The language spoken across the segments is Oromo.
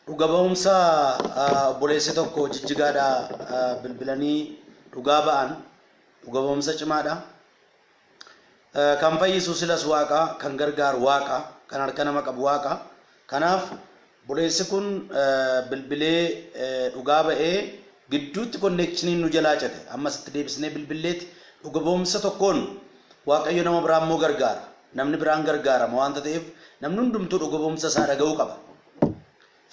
Dhuga ba'umsa obboleessi tokko jijjigaadhaa bilbilanii dhugaa ba'an dhuga ba'umsa cimaadha. Kan fayyisu silas waaqa, kan gargaaru waaqa, kan harka nama qabu waaqa. Kanaaf obboleessi kun bilbilee dhugaa ba'ee gidduutti konneekshiniin nu jalaa cite. Ammas itti deebisnee bilbilleeti dhuga ba'umsa tokkoon waaqayyo nama biraa immoo gargaara. Namni biraan gargaarama waanta ta'eef namni hundumtuu dhugabomsa isaa dhaga'uu qaba.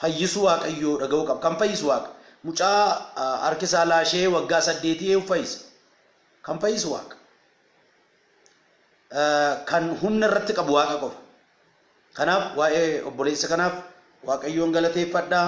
Fayyisuu Waaqayyoo dhaga'uu qaba. Kan fayyisu Waaqa. Mucaa harki isaa laashee waggaa saddeetii eeyyuu fayyise. Kan fayyisu Waaqa. Kan humna irratti qabu Waaqa qofa. Kanaaf waa'ee obboleessa kanaaf Waaqayyoon galateeffadhaa.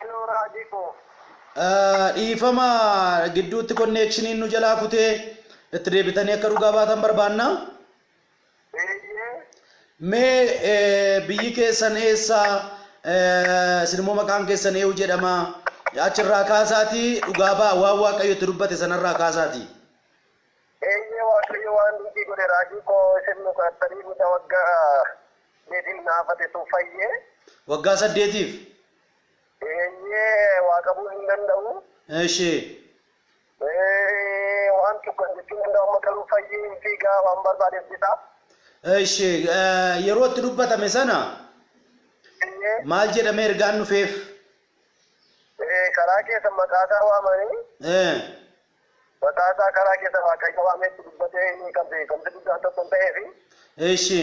Hello Raajii koo. Dhiifama gidduutti konneekshiniin nu jalaa kutee itti deebitanii akka dhugaa baatan barbaanna. Eeyyee. Mee eh, biyyi keessan eessa? Eh, Isin immoo maqaan keessan eeyu jedhama. Achirraa kaasaatii dhugaa ba'a waan Waaqayyo itti dubbate sanarraa kaasaatii. Eeyyee Waaqayyo waan hundii godhe raajii koo isin nu kadhattanii mucaa waggaa deetiin naafate sun fayyee. Waggaa saddeetiif. Eeyyee waa qabuun hin danda'u. Eshi. Ee waan tokko jechuun danda'u amma garuu fayyee hin fiigaa waan barbaadeef bitaa. Eshi yeroo itti dubbatame sana Eeyyee maal jedhamee ergaan dhufeef? ee, karaa keessa maqaasaa waamanii Ee. maqaasaa karaa keessa waaqayyo waameetti dubbatee inni kan beekamti guddaan tokko hin ta'eefi. Eshi.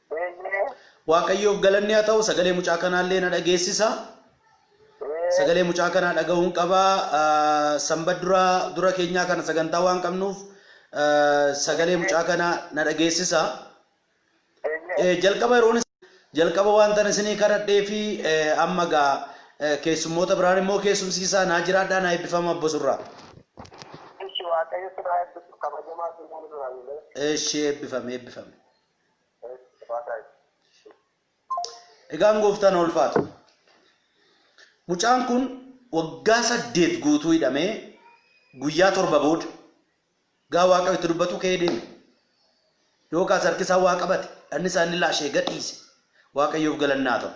Eeyyee. Waaqayyoof galanni haa ta'u sagalee mucaa kanaallee na dhageessisa. Ee, Sagalee mucaa kanaa dhaga'uun qaba. Ah, Sanbata dura dura keenyaa kana sagantaa waan qabnuuf ah, sagalee mucaa kanaa na dhageessisa. eeyyee. Eh, Jalqaba yeroon is- jalqaba wantan isinii kadhadhee fi eh, amma gaa eh, keessummoota biraan immoo keessumsiisaa naa jiraadhaa naa eebbifama abbo surraa. Ishi Waaqayyo si haa eebbisu kabajamaa si hin jiraanne. Eshi eebbifame eebbifame. Egaan gooftaan haa ulfaatu. Mucaan kun waggaa saddeet guutuu hidhamee guyyaa torba booda gaa waaqayyo itti dubbatu ka'ee deeme. Yookaas harki isaa waa qabate, dhanni isaa inni laashee gadhiise. Waaqayyoof galannaa ta'u.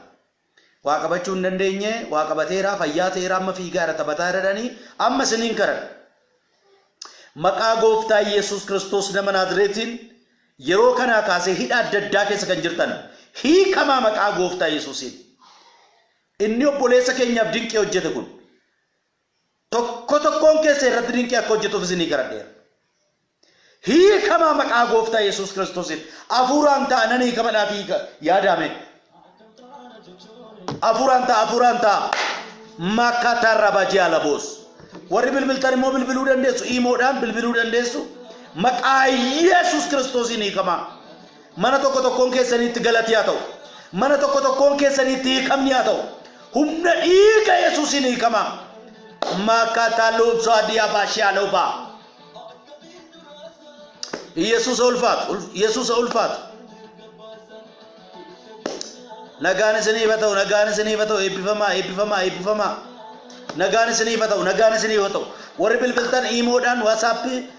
Waa qabachuu hin dandeenye waa qabateera fayyaa ta'eera amma fiigaara taphataara jedhanii amma isiniin kadhadha. Maqaa gooftaa Yesuus Kiristoos nama Naazreetiin yeroo kanaa kaasee hidha adda addaa keessa kan jirtan hiikamaa maqaa gooftaa Yesuusiin. Inni obboleessa keenyaaf dinqii hojjete kun Tokko tokkoon keessan irratti dinqii akka hojjetuuf isinii kadhadheera. Hiikamaa maqaa gooftaa Yesuus Kiristoosiin hafuuraan ta'a nan hiikama naaf hiika yaadaame. Hafuuraan ta'a hafuuraan ta'a makkataa rabajii alaboos. Warri bilbiltan immoo bilbiluu dandeessu iimoodhaan bilbiluu dandeessu maqaa Yesuus Kiristoosiin hiikamaa. Mana tokko tokkoon keessaniitti galati haa ta'u. Mana tokko tokkoon keessaniitti hiikamni haa ta'u. Humna dhiiga Yesuusiin hiikamaa. Maakaataa loobsoo adii abaa shiyaaloo baa. Yesuusa ulfaatu. ul- Yesuusa ulfaatu. Nagaan isiniif haa ta'u. Nagaan isiniif haa ta'u. Eebbifamaa. Eebbifamaa. Eebbifamaa. Nagaan isiniif haa ta'u. Nagaan isiniif haa ta'u. Warri bilbiltan iimoodhaan waasaappii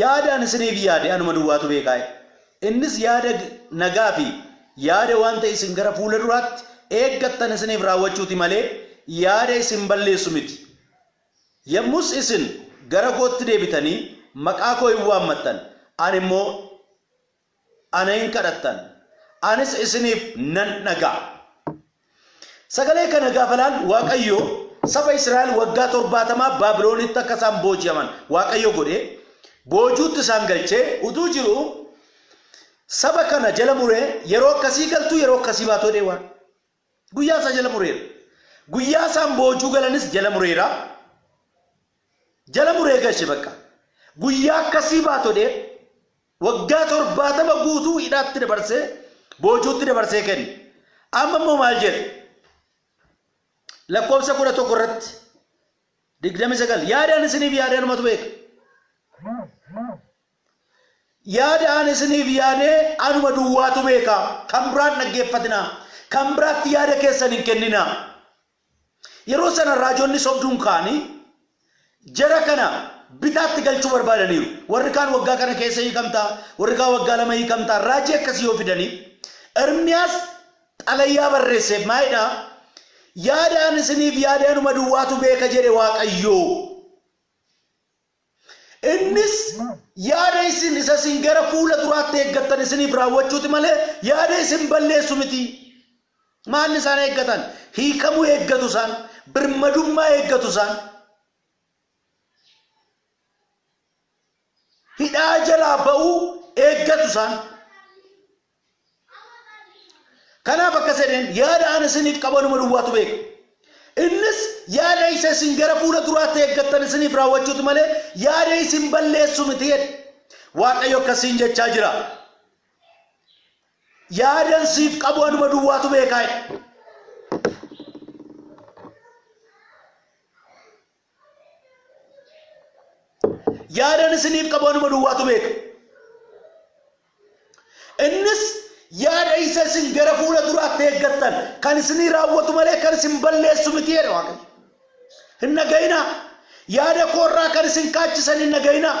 Yaada ani isiniif yaade anuma duwwaatu beekaayi. Innis yaada nagaa fi yaada wanta isin gara fuula duraatti eeggattan isiniif raawwachuu ti malee yaada isin balleessu miti. Yommus isin gara kootti deebitanii maqaa koo in waammattan, ani immoo ana in kadhattan, anis isiniif nan dhaga'a. Sagalee kana gaafa ilaallu Waaqayyo saba Israa'el waggaa torbaatamaa Baabiloonitti akka isaan booji'aman Waaqayyo godhee boojuutti isaan galchee utuu jiru saba kana jala muree yeroo akkasii galtuu yeroo akkasii baatu jedhee waan Guyyaa isaa jala mureera. Guyyaa isaan boojuu galanis jala mureera. Jala muree gashe bakka. Guyyaa akkasii baatodhee waggaa torbaatama guutuu hidhaatti dabarsee boojuutti dabarsee kenne. Amma immoo maal jedhe? Lakkoofsa kudha tokko irratti digdami sagal yaadaan isiniif yaadaanumatu beeka. Yaada an isiniif yaade anuma duwwaatu beeka. Kan biraa hin dhaggeeffatinaa. Kan biraatti yaada keessan hin kenninaa. Yeroo sana raajonni sobduun ka'anii jara kana bitaatti galchuu barbaadaniiru. Warri kaan waggaa kana keessa hiikamta, warri kaan waggaa lama hiikamta, raajii akkasii yoo fidanii Ermiyaas xalayaa barreesseef maalidha? Yaada an isiniif yaade anuma duwwaatu beeka jedhe Waaqayyoo. Innis yaada isin isa isin gara fuula duraatti eeggattan isiniif raawwachuuti malee yaada isin balleessu miti. Maalli isaan eeggatan? Hiikamuu eeggatu isaan, birmadummaa eeggatu isaan. Hidhaa jalaa ba'uu eeggatu isaan. Kanaaf akkas jedheen yaada ani isiniif qabu anuma duwwaatu beeka. Innis yaada isa isin gara fuula duraatti eeggattan isiniif raawwachuuti malee yaada isin balleessu miti jedhe. Waaqayyo akkasiin jechaa jira. Yaadan siif qabu anuma duwwaatu beekaa jedhe. Yaadan isiniif qabu anuma duwwaatu beeka. Innis yaada isa isin gara fuula duraatti eeggattan kan isinii raawwatu malee kan isin balleessu miti jedha Waaqayyo. Hin dhaga'inaa. Yaada koorraa kan isin kaachisan hin dhaga'inaa.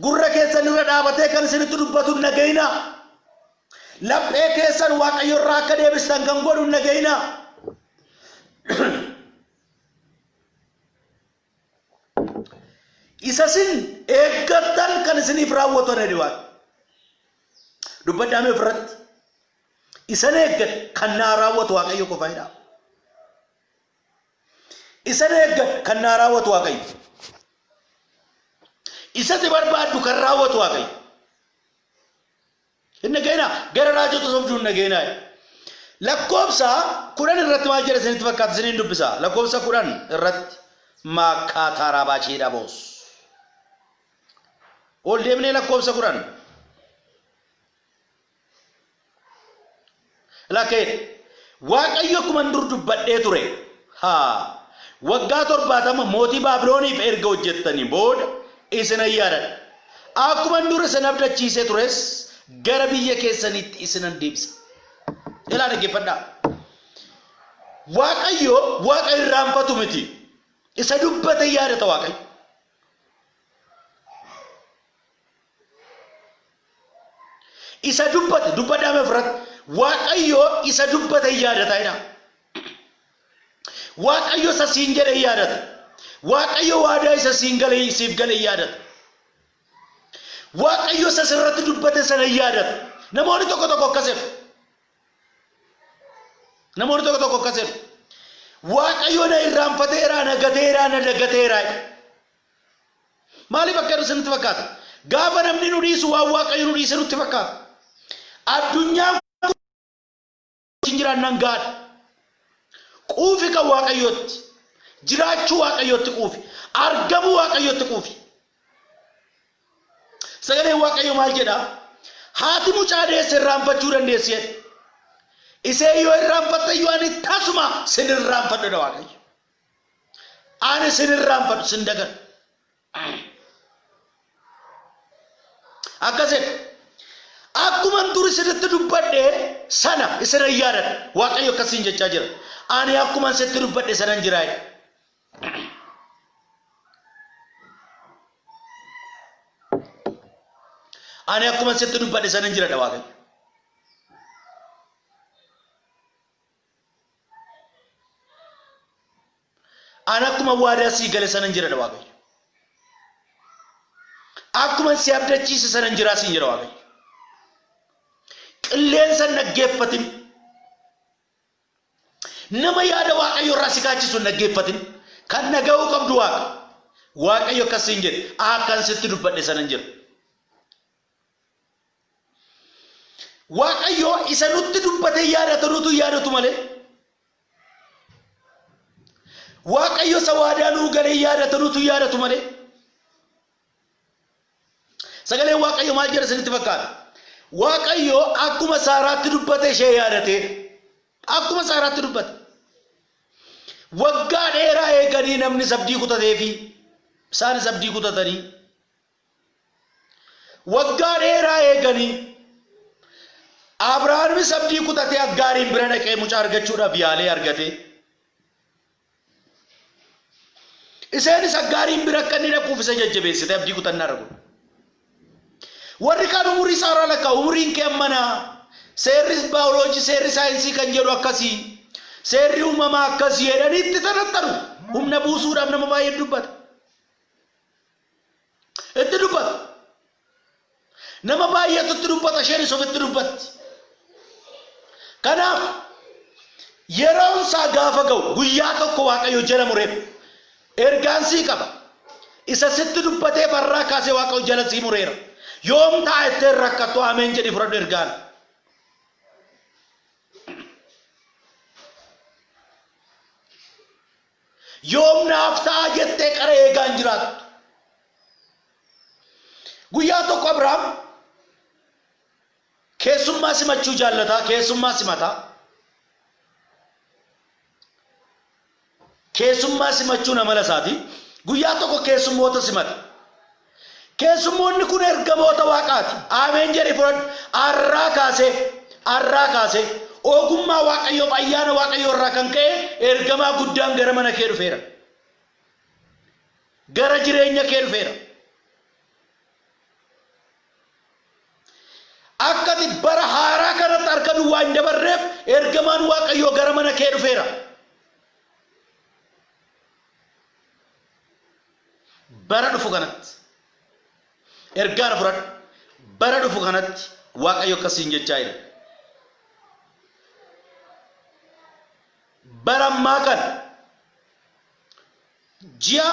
Gurra keessan irra dhaabatee kan isinitti dubbatu hin dhaga'inaa. Laphee keessan Waaqayyo irraa akka deebistan kan godhu hin dhaga'inaa. Isa isin eeggattan kan isiniif raawwatu jedhe waan. Dubbadhaa mee ofirratti. Isan eeggadhe kan naa raawwatu Waaqayyo qofa jedhaa. Isa na eeggatu kan naa raawwatu Waaqayyo. Isa si barbaaddu kan raawwatu Waaqayyo. Hin dhageenaa gara raajota sobduu hin dhageenaa. Lakkoobsa kudhan irratti maal jedha isinitti fakkaata isiniin dubbisa. Lakkoobsa kudhan irratti maakkaa taaraabaa ciidha boos. Ol deemnee lakkoobsa kudhan. Lakee Waaqayyo akkuman dur dubbadhee ture haa waggaa torbaatama mootii Baabilooniif erga hojjettanii booda isinan yaadadha. Akkuman dur isin abdachiisee tures gara biyya keessaniitti isinan deebisa. Ilaa dhaggeeffadhaa. Waaqayyo waaqa irraanfatu miti. Isa dubbate yaadata Waaqayyo. Isa dubbate dubbadhaa mee ofirratti. Waaqayyo isa dubbate hin yaadataa jedhaa. Waaqayyo isa siin jedhe hin yaadata. Waaqayyo waadaa isa siin gale siif gale hin yaadata. Waaqayyo isa sirratti dubbate sana hin yaadata. Namoonni tokko tokko akkas jedhu. Namoonni tokko tokko akkas jedhu. Waaqayyo na irraanfateera, na gateera, na dagateera. Maaliif akka hir'ise nutti fakkaata? Gaafa namni nu dhiisu waan Waaqayyo nu dhiise nutti fakkaata. Addunyaan kun wajjin jiraannaan gaadha. Quufi kan Waaqayyootti. Jiraachuu Waaqayyootti quufi. Argamuu Waaqayyootti quufi. Sagaleen Waaqayyo maal jedha? Haati mucaa deesse irraanfachuu dandeessi jedhe. Isee yoo irraanfatte iyyuu ani tasuma sin irraanfadhu jedha Waaqayyo. Ani sin irraanfadhu sin dagadhu. Akkas jedhe. Akkuman dur isinitti dubbadhe sana isin hin yaadadha. Waaqayyo akkasiin jechaa jira. Ani akkuman sitti dubbadhe sanan jiraa jedhe. Ani akkuman sitti dubbadhe sanan jiradha Waaqayyo. An akkuma waadaa sii gale sanan jira jedha Waaqayyo. Akkuma si abdachiise sanan jiraa siin jedha Waaqayyo. Qilleensa hin dhaggeeffatin. Nama yaada Waaqayyo irraa si kaachisu hin dhaggeeffatin. Kan dhaga'uu qabdu Waaqa. Waaqayyo akkas siin jedhe. Akkan sitti dubbadhe sanan jira. Waaqayyoo isa nutti dubbatee yaadatu nutu yaadatu malee Waaqayyo isa waadaa nuu galee yaadatu nutu yaadatu malee sagalee Waaqayyo maal jedha isinitti fakkaata? Waaqayyo akkuma saaraatti dubbate ishee yaadate akkuma saaraatti dubbate waggaa dheeraa eeganii namni sabdii kutateefi isaanis abdii kutatanii Waggaa dheeraa eeganii. Abrahaamis abdii kutatee Aggaariin bira dhaqee mucaa argachuudhaaf yaalee argate. Iseenis Aggaariin bira akka inni dhaquuf isa jajjabeessite abdii kutannaa irra godhe. Warri kaan umurii saaraa lakkaa umuriin kee ammanaa seerri baayoloojii seerri saayinsii kan jedhu akkasii seerri uumamaa akkasii jedhanii itti tanattanu humna buusuudhaaf nama baay'ee dubbata. Itti dubbata. Nama baay'eetu itti dubbata isheenis ofitti dubbatti. Kanaaf yeroon isaa gaafa ga'u guyyaa tokko waaqayyo jala mureef ergaan sii qaba. Isa sitti dubbatee farraa kaasee waaqayyo jala sii mureera. Yoom ta'a ittiin rakkattu ameen jedhi fudhadhu ergaan. Yoom naaf ta'a jettee qara eegaa hin jiraattu. Guyyaa tokko Abrahaam keessummaa simachuu jaallataa, keessummaa simataa. Keessummaa simachuun amala isaati. Guyyaa tokko keessummoota simate. Keessummoonni kun ergamoota Waaqaati. Aameen jedhii fudhadhu. Har'aa kaasee, har'aa kaasee, ogummaa Waaqayyoof ayyaana Waaqayyoo irraa kan ka'e ergamaa guddaan gara mana kee dhufeera. Gara jireenya kee dhufeera. Akka ati bara haaraa kanatti harka duwwaa hin dabarreef ergamaan Waaqayyoo gara mana kee dhufeera. bara dhufu kanatti ergaara fudhadhu bara dhufu kanatti waaqayyo akkas siin jechaa jira bara ammaa kana ji'a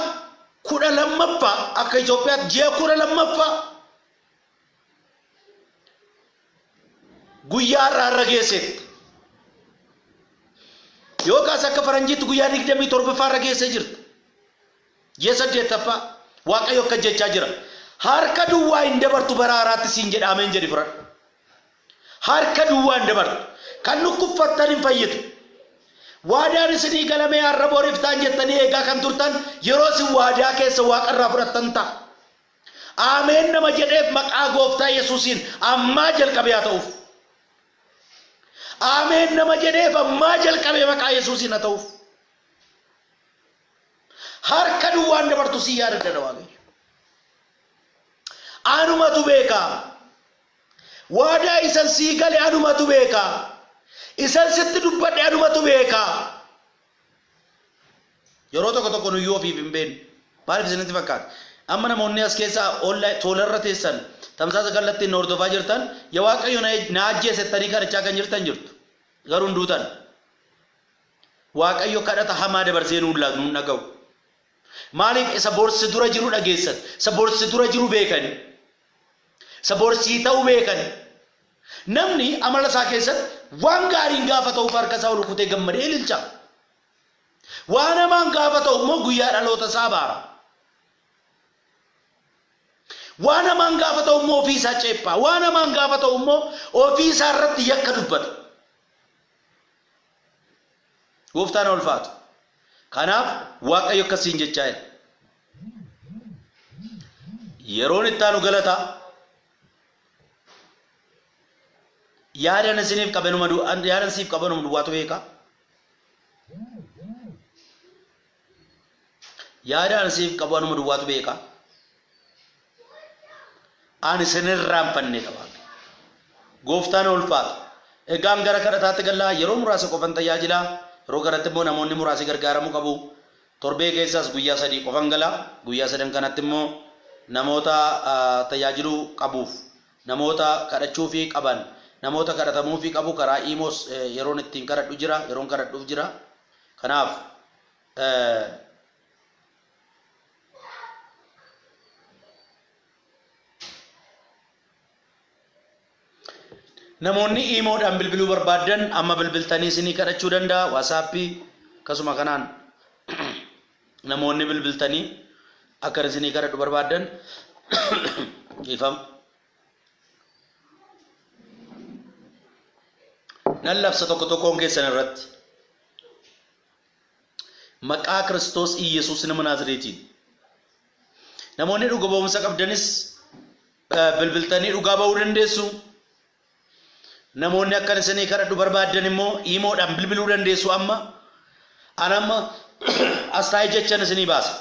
kudha lammaffaa akka Itoophiyaatti ji'a kudha lammaffaa guyyaa har'a har'a geesseetti. Yoo kaas akka faranjiitti guyyaa 27ffaa irra geessee jirta. Ji'a saddeettaffaa Waaqayyo akka jechaa jira. Harka duwwaa hin dabartu bara haaraatti siin jedhaameen jedhi fudhadhu. Harka duwwaa hin dabartu. Kan dhukkubfattan hin fayyitu. Waadaan isinii galamee har'a booriftaan jettanii eegaa kan turtan yeroo isin waadaa keessa waaqarraa fudhattan ta'a. Aameen nama jedheef maqaa gooftaa yesuusiin ammaa jalqabe haa ta'uuf. Aameen nama jedheef ammaa jalqabe maqaa yesuusiin haa ta'uuf. Harka duwwaan dabartu si yaadadha waaqayyo. Anumatu beeka. Waadaa isan sii gale anumatu beeka. Isan sitti dubbadhe anumatu beeka. Yeroo tokko tokko nuyyuu ofiif hin beeknu. Maaliif isinitti fakkaata? Amma namoonni as keessa online toolarra teessan tamsaasa kallattiin na hordofaa jirtan ya waaqayyo na, na ajjeese jettanii kadhachaa kan jirtan jirtu. Garuu hin duutan. Waaqayyo kadhata hamaa dabarsee nuun laatu nuun dhaga'u. Maaliif isa borsi dura jiru dhageessan, isa borsi dura jiru beekanii. Isa bor sii ta'u beekani. Namni amala isaa keessatti waan gaariin gaafa ta'uuf harka isaa ol rukutee gammadee ililcha. Waan hamaan gaafa ta'u immoo guyyaa dhaloota isaa abaara. Waan hamaan gaafa ta'u immoo ofii isaa ceephaa. Waan hamaan gaafa ta'u immoo ofii isaa irratti yakka dubbata. Gooftaan ulfaatu. Kanaaf Waaqayyo akkasiin jechaa jira. Yeroon itti aanu galata yaadan isiniif qabanuma yaadan siif qabanuma duwwaatu beeka. Yaadaan siif qabanuma duwwaatu beeka. Ani isin hin irraanfanne dha Waaqayyo. Gooftaan haa ulfaatu. Egaan gara kadhataatti galla. Yeroo muraasa qofan tajaajila. Yeroo kanatti immoo namoonni muraasi gargaaramuu qabu. Torbee keessaas guyyaa sadii qofan gala. Guyyaa sadan kanatti immoo namoota ah, tajaajiluu qabuuf, namoota kadhachuufii qaban, namoota kadhatamuufii qabu karaa iimoos eh, yeroon ittiin kadhadhu jira, yeroon kadhadhuuf jira. Kanaaf eh, Namoonni iimoodhaan bilbiluu barbaaddan amma bilbiltanii isinii kadhachuu danda'a waasaappii akkasuma kanaan namoonni bilbiltanii akka isinii kadhadhu barbaaddan ifam nan labsa tokko tokkoon keessan irratti Maqaa Kiristoos Iyyesuus nama Naazireetiin. Namoonni dhuga ba'umsa qabdanis bilbiltanii dhugaa ba'uu dandeessu. Namoonni akkan isinii kadhadhu barbaaddan immoo imoodhaan bilbiluu dandeessu amma. An amma as taa'ee jechan isinii baasa.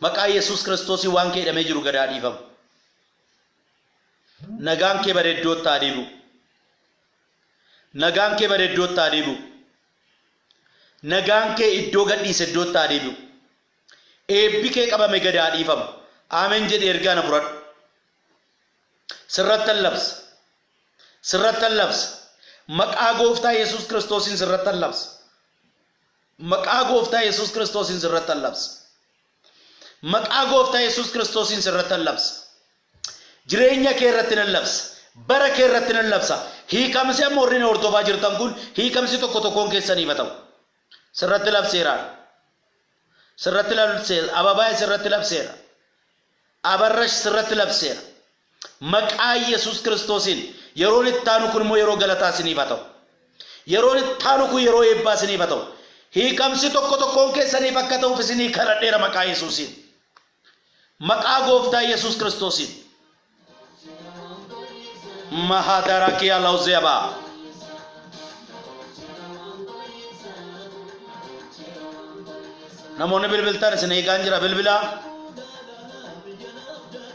Maqaa Yesuus Kiristoosii waan kee hidhamee jiru gadaa dhiifamu. Nagaan kee bareeddootti haa deebi'u. Nagaan kee bareeddootti haa deebi'u. Nagaan kee iddoo gadhiise iddootti haa deebi'u. Eebbi kee qabame gad haa dhiifamu. Amen jedhi ergaa na fudhadhu. Sirrattan labsa. Sirrattan labsa. Maqaa gooftaa Yesuus Kiristoosiin sirrattan labsa. Maqaa gooftaa Yesuus Kiristoosiin sirrattan labsa. Maqaa gooftaa Yesuus Kiristoosiin sirrattan labsa. Jireenya kee irratti nan labsa. Bara kee irratti nan labsa. Hiikamsi amma warri na hordofaa jirtan kun hiikamsi tokko tokkoon keessaniif haa ta'u. Sirratti labseeraan. Sirratti labseera. Ababaay sirratti labseera. Abarrash sirratti labseera. Maqaa Yesuus Kiristoosiin yeroon itti aanu kun immoo yeroo galataa isiniif haa ta'u. Yeroon itti aanu kun yeroo eebbaa isiniif haa ta'u. Hiikamsi tokko tokkoon keessaniif akka ta'uuf isinii kadhadheera maqaa Yesuusiin. Maqaa Gooftaa Yesuus Kiristoosiin. Mahaadarakii Alaawuzeebaa. Namoonni bilbiltan isin eegaan jira bilbilaa.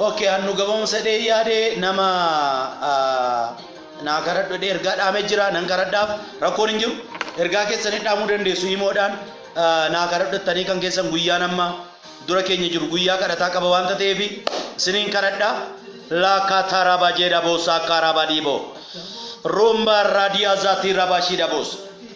Okay, hannu gabaabumsa dhee yaade nama naa karadhu jedhee ergaa dhaamee jira nan karadhaaf rakkoon hin jiru ergaa keessan hin dhaamuu dandeessu himoodhaan naa karadhu jettanii kan keessan guyyaan amma dura keenya jiru guyyaa kadhataa qaba waan ta'eef isiniin karadha laakaa taaraabaa jeedha boosaa kaaraabaa dhiiboo ruumbaa raadiyaa zaatii raabaa shiidha boosa.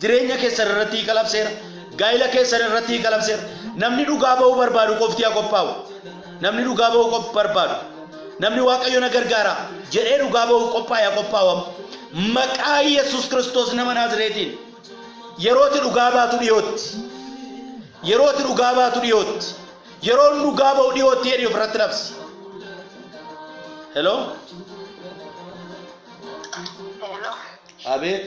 Jireenya keessan irratti hiika labseera. Gaa'ila keessan irratti hiika labseera. Namni dhugaa ba'uu barbaadu qofti haa qophaa'u. Namni dhugaa ba'uu qop- barbaadu. Namni Waaqayyo na gargaara jedhee dhugaa ba'uu qophaa'e haa qophaa'amu. Maqaa Yesus Kiristoos nama Naazireetiin yerooti dhugaa baatu dhiyootti. Yerooti dhugaa baatu dhiyootti. Yeroon dhugaa ba'u dhiyootti jedhee ofirratti labsi. Hello? Hello. Abeet.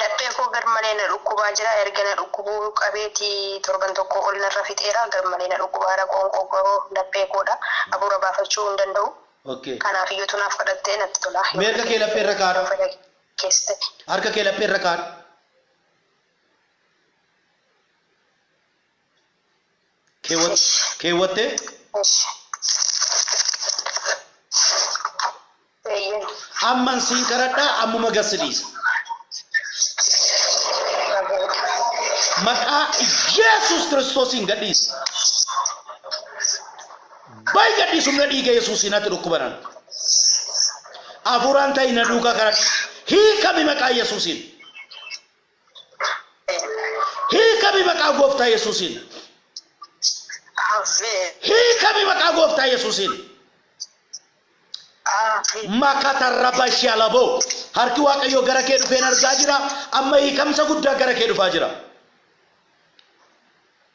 Laphee koo garmalee na dhukkubaa jira erga na dhukkubuu qabeeti torban tokkoo ol narra fixeera garmalee na dhukkubaara qoonqoo koo laphee koodha abuura baafachuu hin danda'u kanaaf yotu naaf kadhatte natti tola yoo fedha kee ta'e yoo fedha kees ta'e. Harka kee laphee irra kaadhu. keewwat- keewwattee Eshi. Eeyyeen. amman siin kadhadhaa ammuma gad si dhiisa maqaa yesus kiristoosiin gad dhiisi bayi gad dhiisi humna dhiiga yesuusiin ati dhukkubanan hafuuraan ta'i na duukaa kadhadha hiikami maqaa yesuusiin Hiikami maqaa gooftaa Yesuusiin. Ameen. Hiikami maqaa gooftaa Yesuusiin. Ameen. Makata rabashi alabo. Harki Waaqayyoo gara kee dhufeen argaa jira. Amma hiikamsa guddaa gara kee dhufaa jira.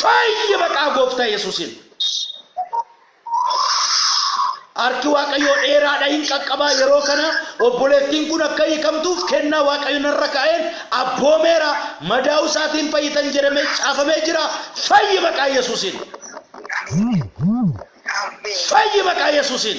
Fayyi maqaa gooftaa Yesuusiin. Harki Waaqayyoo dheeraadha hin qaqqabaa yeroo kana obboleettiin kun akka hiikamtuuf kennaa Waaqayyo narra kaa'een abboomeera madaa'uu isaatiin fayyitan jedhamee caafamee jira fayyi maqaa Yesuusiin. Fayyi maqaa Yesuusiin.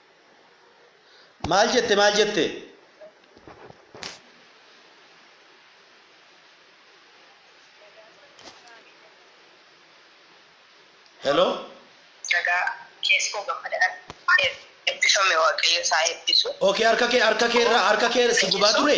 Maal jette maal jette? Hello? Nagaa keessoo gammadaan eebbifame waaqayyo isaa eebbisu. Okay harka kee harka kee irra harka kee si gubaa ture?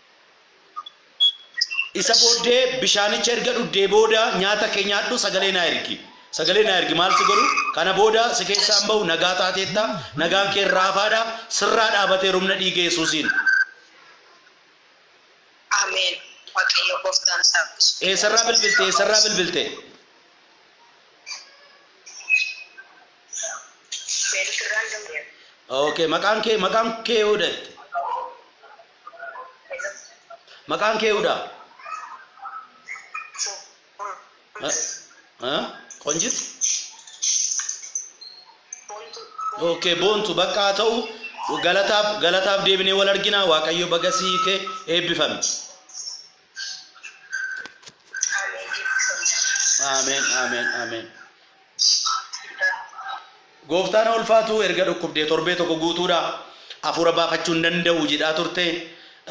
Isa booddee bishaanicha erga dhugdee booda nyaata kee nyaadhu sagalee naa ergi. Sagalee naa ergi maal si godhu? Kana booda si keessaa hin bahu nagaa taateetta nagaan kee irraa hafaadha sirraa dhaabatee rumna dhiiga Yesuusiin. Ameen. Waaqayyo gooftaan isaa bisu. Eessarraa bilbilte eessarraa bilbilte? Beelgirraan danda'eera. Okay maqaan kee maqaan kee yoo dhatte. Maqaan kee Yudaa. Ha? Qonjit? Okay, boontu bakka haa ta'u galataaf galataaf deebinee wal argina waaqayyo bagasii kee eebbifame. Ameen, ameen, ameen. Gooftaan ulfaatu erga dhukkubdee torbee tokko guutuudha. Hafuura baafachuu hin danda'u jedhaa turte.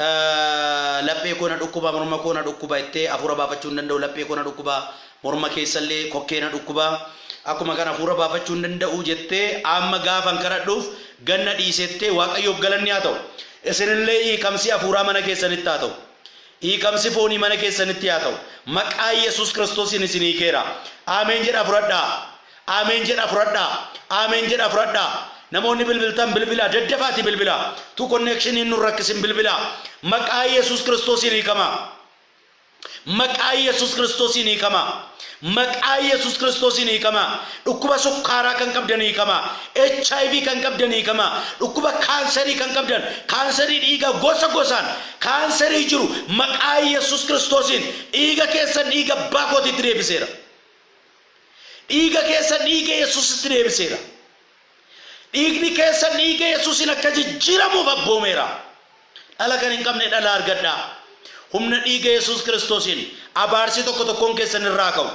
Eh, Laphee koo na dhukkuba, morma koo na dhukkuba jettee hafuura baafachuu hin danda'u. Laphee koo na dhukkuba, morma keessallee kokkee na dhukkuba. Akkuma kana hafuura baafachuu hin danda'u jettee amma gaafan kadhadhuuf ganna dhiisettee Waaqayyoof galanni haa ta'u. Isinillee hiikamsi hafuuraa mana keessanitti haa ta'u. Hiikamsi foonii mana keessanitti haa ta'u. Maqaa Yesuus Kiristoosiin isin hiikeera. Ameen jedhaa fudhadhaa. Ameen jedhaa fudhadhaa. Ameen jedhaa fudhadhaa. Namoonni bilbiltan bilbilaa daddafaatii bilbilaa. Tu konneekshiniin nun rakkisin bilbilaa. Maqaa Yesuus Kiristoosiin hiikamaa. Maqaa Yesuus Kiristoosiin hiikamaa. Maqaa Yesus Kiristoosiin hiikamaa. Dhukkuba sukkaaraa kan qabdan hiikamaa. HIV kan qabdan hiikamaa. Dhukkuba kaansarii kan qabdan, kaansarii dhiigaa gosa gosaan, kaansarii jiru maqaa Yesus Kiristoosiin dhiiga keessan dhiiga abbaa kootiitti deebiseera. Dhiiga keessan dhiiga Yesusitti deebiseera. Dhiigni keessan dhiiga Yesuusiin akka jijjiiramuuf abboomeera. Dhala kan hin qabne dhala argadhaa. Humna dhiiga Yesuus Kiristoosiin abaarsi tokko tokkoon keessan irra haa ka'u.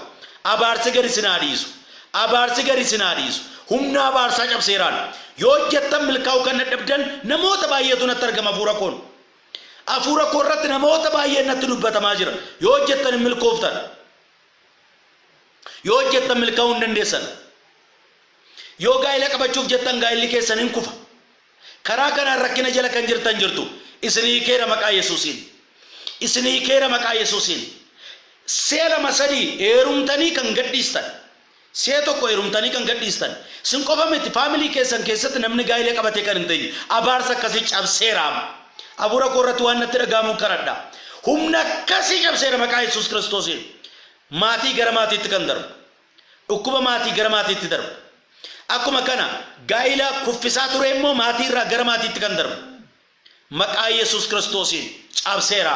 Abaarsi gadi isin haa dhiisu. Abaarsi gadi isin haa dhiisu. Humna abaarsaa cabseeraan. Yoo hojjettan milkaa'uu kan dadhabdan namoota baay'eetu natti argama hafuura koon. Hafuura koo irratti namoota baay'een natti dubbatamaa jira. Yoo hojjettan hin milkooftan. Yoo hojjettan milkaa'uu hin dandeessan. Yoo gaa'ila qabachuuf jettan gaa'illi keessan in kufa. Karaa kanaan rakkina jala kan jirtan jirtu. Isin hiikeera maqaa Yesuusiin. Isin hiikeera maqaa Yesuusiin. Si'a lama sadii heerumtanii kan gadhiistan. Si'a tokko heerumtanii kan gadhiistan sin qofa miti, family keessan keessatti namni gaa'ila qabatee kan hin teenye abaarsa akkasii cabseera. Afuura koo irratti waan natti dhaga'amuun kadhadha. Humna akkasii cabseera maqaa Yesuus Kiristoosiin. Maatii gara maatiitti kan darbu. Dhukkuba maatii gara maatiitti darbu. Akkuma kana gaa'ila kuffisaa ture immoo maatii irraa gara maatiitti kan darbu. Maqaa Yesuus Kiristoosiin cabseera.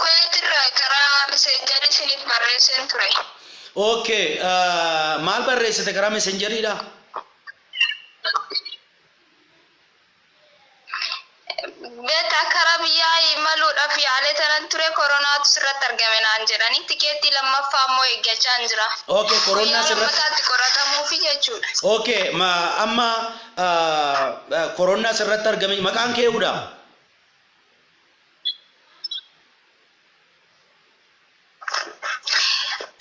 Kuwait irraa karaa messengerii isiniif barreesseen ture. Okay, ah, maal barreessite karaa messenjeriidha? Beta karaa biyyaa imaluudhaaf yaalee tanan ture koronaatu sirratti argame naan jedhanii tikeettii lammaffaa immoo eeggachaan jira. Okay, koroonaa Guyyaa sirratti- lammataatti qoratamuufi jechuudha. Okay, ma amma koronna asirratti argame maqaan kee eewudha.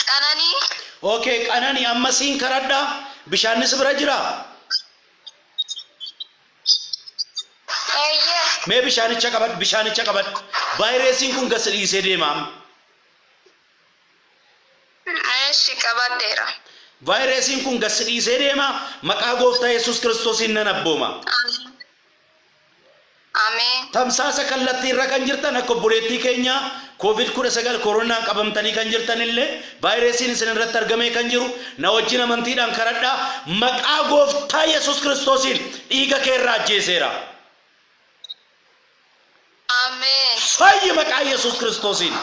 Qananii Okay, qanani amma siin karadha bishaannis bira jira. eeyyee Mee bishaanicha qabadhu bishaanicha qabadhu. Vaayiresiin kun gasi dhiisee deema. Eeshi, qabadheera. Vaayiresiin kun gad si dhiisee deema, maqaa Gooftaa Yesuus Kiristoosiin nan abbooma. Ameen. Ameen. Tamsaasa kallattii irra kan jirtan akka obboleettii keenyaa Covid 19 Koronaan qabamtanii kan jirtan illee vaayiresiin isin irratti argamee kan jiru na wajjin amantiidhaan kadhadhaa maqaa Gooftaa Yesuus Kiristoosiin dhiiga kee irraa ajjeeseera. Ameen. Fayyi maqaa Yesuus Kiristoosiin.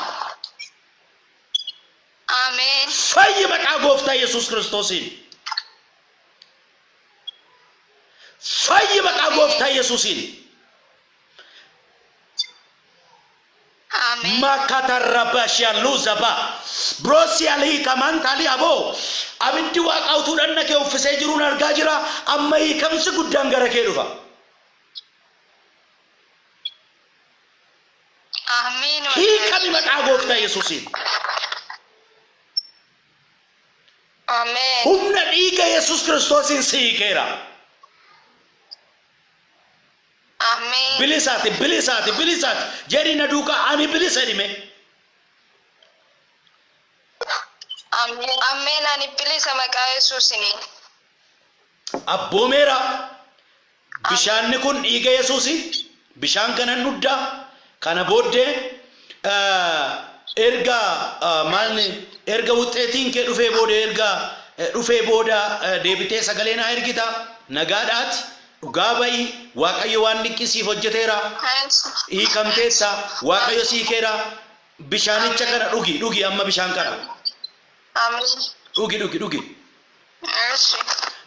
Ameen. Fayyi maqaa gooftaa Yesuus Kiristoosiin. Fayyi maqaa gooftaa Yesuusiin. Ameen. Makatarabashiya luzaba brosiyalii kamantaalii aboo abiddi waaqaa utuu dhanna kee uffisee jiruun argaa jira amma hiikamsi guddaan gara kee dhufa. Amiin wallaahi. hiikami maqaa gooftaa yesuusiin Ameen. humna dhiiga yesus kiristoosiin si hiikeera Ameen. bilisaati bilisaati bilisaati jedhi na duuka ani bilisa dhime Ameen. Ameen ani bilisa maqaa Yesuusini. abboomeera. Bishaanni kun dhiiga Yesuusi. Bishaan kanan dhudda. Kana booddee eh, erga eh, maalni erga wuxxeetiin kee dhufee booda erga eh, dhufee booda eh, deebitee sagalee naa ergita. Nagaadhaati. Dhugaa ba'i. Waaqayyo waan dinqii siif hojjeteera. Hiikamteetta. Waaqayyo sii keera. Bishaanicha kana dhugi. Dhugi amma bishaan kana. Amiin. Dhugi, dhugi, dhugi. Eshi.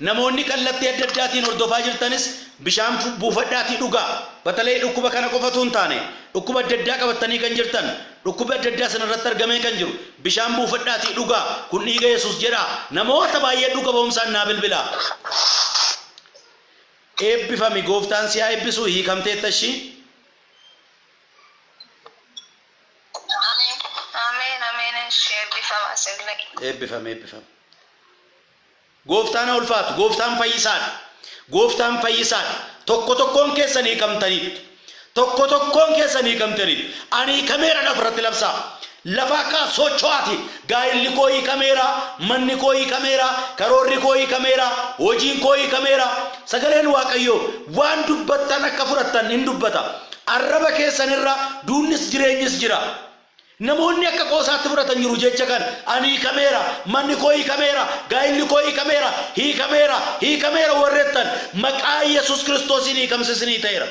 Namoonni kallattii adda addaatiin hordofaa jirtanis bishaan fu- buufadhaatii dhugaa. Batalay dhukkuba kana qofa utuu hin taane, dhukkuba adda addaa qabattanii kan jirtan, dhukkubbi adda addaa isin irratti argamee kan jiru, bishaan buufadhaatii dhugaa. Kun dhiiga Yesuus jedhaa. Namoota baay'ee dhuga ba'umsaan naa bilbilaa. Eebbifami, gooftaan si haa eebbisu, hiikamteetta ishii. Ameen Ameen Ameen Eshi eebbifama isinillee. Eebbifam eebbifam. Gooftaan haa ulfaatu. Gooftaan fayyisaadha. Gooftaan fayyisaadha. Tokko tokkoon keessan hiikamtaniittu. Tokko tokkoon keessan hiikamtaniittu. Ani hiikameera lafa irratti labsaa. Lafa akka socho'aati Gaa'illi koo hiikameera, manni koo hiikameera, karoorri koo hiikameera, hojiin koo hiikameera. Sagaleen Waaqayyoo, Waan dubbattan akka fudhattan in dubbata, arraba keessan irra duunnis jireenyis jira. Namoonni akka qoosaatti fudhatan jiru jecha kana, Ani hiikameera, manni koo hiikameera, gaa'illi koo hiikameera, hiikameera, hiikameera warri jettan, maqaa Yesus Kiristoosiin hiikamsi isinii ta'eera.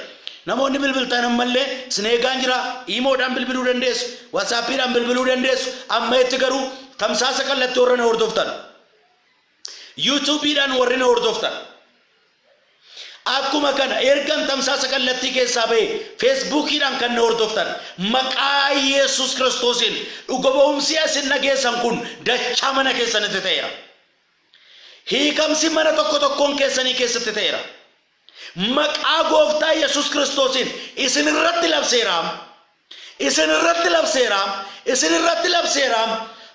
Namoonni bilbiltan ammallee isin eegaan jira. Iimoodhaan bilbiluu dandeessu, Whatsappidhaan bilbiluu dandeessu. Ammaetti garuu tamsaasa kallatti warra na hordoftan, Youtubeidhaan warri na hordoftan, akkuma kana ergan tamsaasa kallattii keessaa ba'e Facebookiidhaan kan na hordoftan maqaa Yesus Kiristoosiin dhuga ba'umsi isin dhageessan kun dachaa mana keessanitti ta'eera. Hiikamsi mana tokko tokkoon keessanii keessatti ta'eera. Maqaa Gooftaa Yesus Kiristoosiin isin irratti labseeraam, isin irratti labseeraam, isin irratti labseeraam,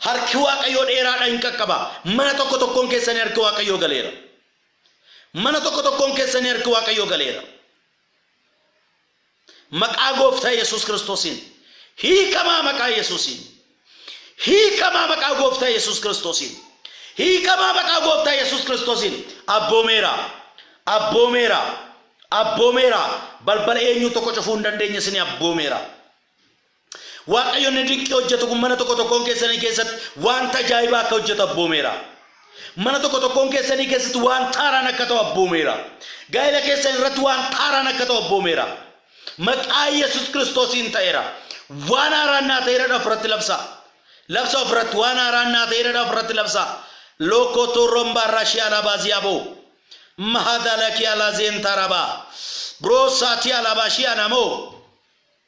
harki Waaqayyoo dheeraadha in qaqqaba. Mana tokko tokkoon keessanii harki Waaqayyoo galeera. Mana tokko tokkoon keessanii harki Waaqayyoo galeera. Maqaa gooftaa yesuus kiristoosiin hiikamaa maqaa yesuusiin hiikamaa maqaa gooftaa yesuus kiristoosiin hiikamaa maqaa gooftaa yesuus kiristoosiin abboomeera abboomeera abboomeera balbala eenyuu tokko cufuu hin dandeenye isin abboomeera Waaqayyo inni dinqii hojjetu kun mana tokko tokkoon keessanii keessatti wanta ajaa'ibaa akka hojjetu abboomeera. Mana tokko tokkoon keessanii keessatti waan taaraan akka ta'u abboomeera. Gaa'ela keessan irratti waan taaraan akka ta'u abboomeera. Maqaa Yesus Kiristoosiin ta'eera. Waan haaraan naa ta'eera dhaaf irratti labsaa. Labsa of irratti waan haaraan naa ta'eera dhaaf irratti labsaa. Lookoo toorroon baarraa shii alaabaa ziyaa ba'u. Mahadalakii alaa zeentaa rabaa. Biroo saatii alaabaa shii anamoo.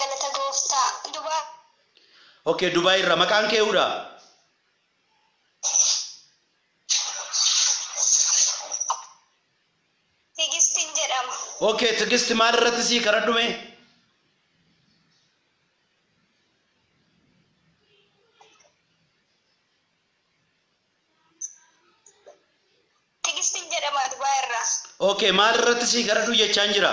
Galata gooftaa. Dubai. Ok Dubai irraa maqaan kee eeudha? Tigistin jedhama. Ok Tigisti maal irratti sii kadhadhu mee? Tigistin jedhama Dubai irraa. Ok maal irratti sii kadhadhu jechaan jira?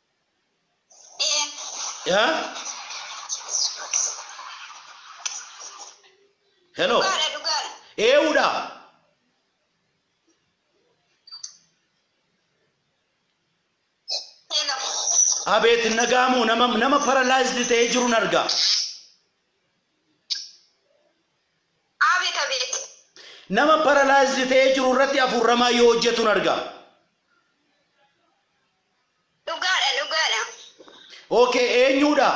Yaa. Hello. Dhugaadha dhugaadha. Eewudha. Hello. Abeet hin dhaga'amu nama nama paralyzed ta'ee jiru nan arga. Abeet abeet. Nama paralyzed ta'ee jiru irratti hafuurri hamaa yoo hojjetu nan arga. Dhugaadha dhugaadha. Ok eenyuudha?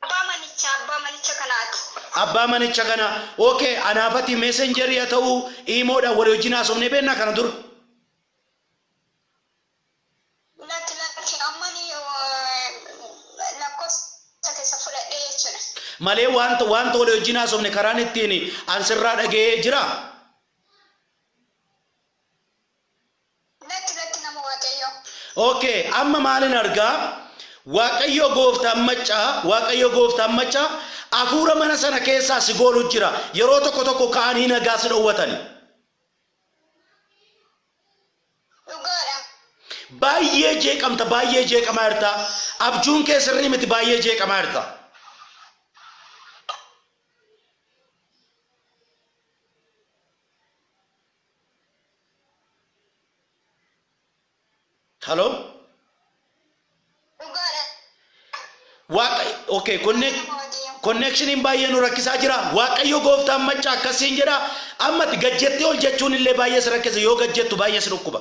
Abbaa manichaa abbaa manicha kanaati. Abbaa manicha kana. Ok anaafati messengerii haa ta'u iimoodhaan walii wajjin haasofnee beeknaa kana dura. Lakki lakki ammani lakkoofsa keessa fudhadhee jechuudha. Malee wanta wanta walii wajjin haasofne karaan ittiin an sirraa dhaga'ee jira. Lakki lakki nama waaqayyoo. Ok amma maalin argaa Waaqayyoo gooftaan maccaa Waaqayyoo gooftaan maccaa afuura mana sana keessaa si goolu jira yeroo tokko tokko ka'anii nagaa si dhowwatani. Dhugaadha. Baay'ee jeeqamta baay'ee jeeqamaa jirta abjuun kee sirrii miti baay'ee jeeqamaa jirta. Halo? Dhugaadha. Waaqa okay konne konneekshiniin baay'ee nu rakkisaa jira. Waaqayyo gooftaan maccaa akkasiin jedha. Amma ati gad jettee ol jechuun illee baay'ee si rakkisa yoo gad jettu baay'ee si dhukkuba.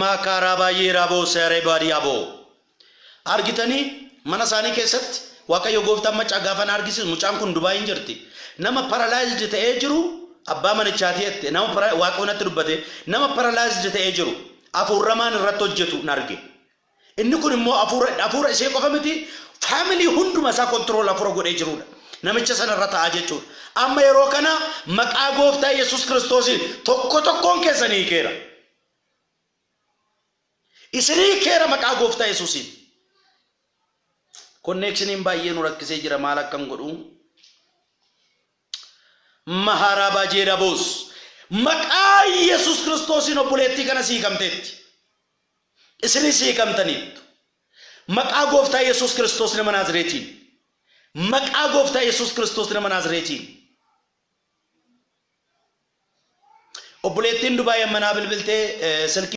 Maakaaraa baay'ee raaboo seeree baadiyyaa boo. Argitanii mana isaanii keessatti Waaqayyo gooftaan maccaa gaafa na argisiisu mucaan kun Dubaayiin jirti. Nama paralaayizd ta'ee jiru abbaa manichaatii jette nama para- Waaqayyo natti dubbate nama paralaayizd ta'ee jiru afuurramaan irratti hojjetu na arge. Inni kun immoo afuura afuura ishee qofa miti family hunduma isaa control afuura godhee jiruudha. Namicha sana irra ta'aa jechuudha. Amma yeroo kana maqaa gooftaa Yesus Kiristoosiin tokko tokkoon keessanii hiikeera. Isinii hiikeera maqaa gooftaa Yesusiin. Konneekshiniin baay'ee nu rakkisee jira maal akkan godhu. Maharaa baajee daboos. Maqaa Yesus Kiristoosiin obboleettii kana siikamteetti. Isinis hiikamtaniittu. Maqaa Gooftaa Yesuus Kiristoos nama Naazireetiin. Maqaa Gooftaa Yesuus Kiristoos nama Naazireetiin. Obboleettiin Dubaay amma naa bilbiltee eh, silkii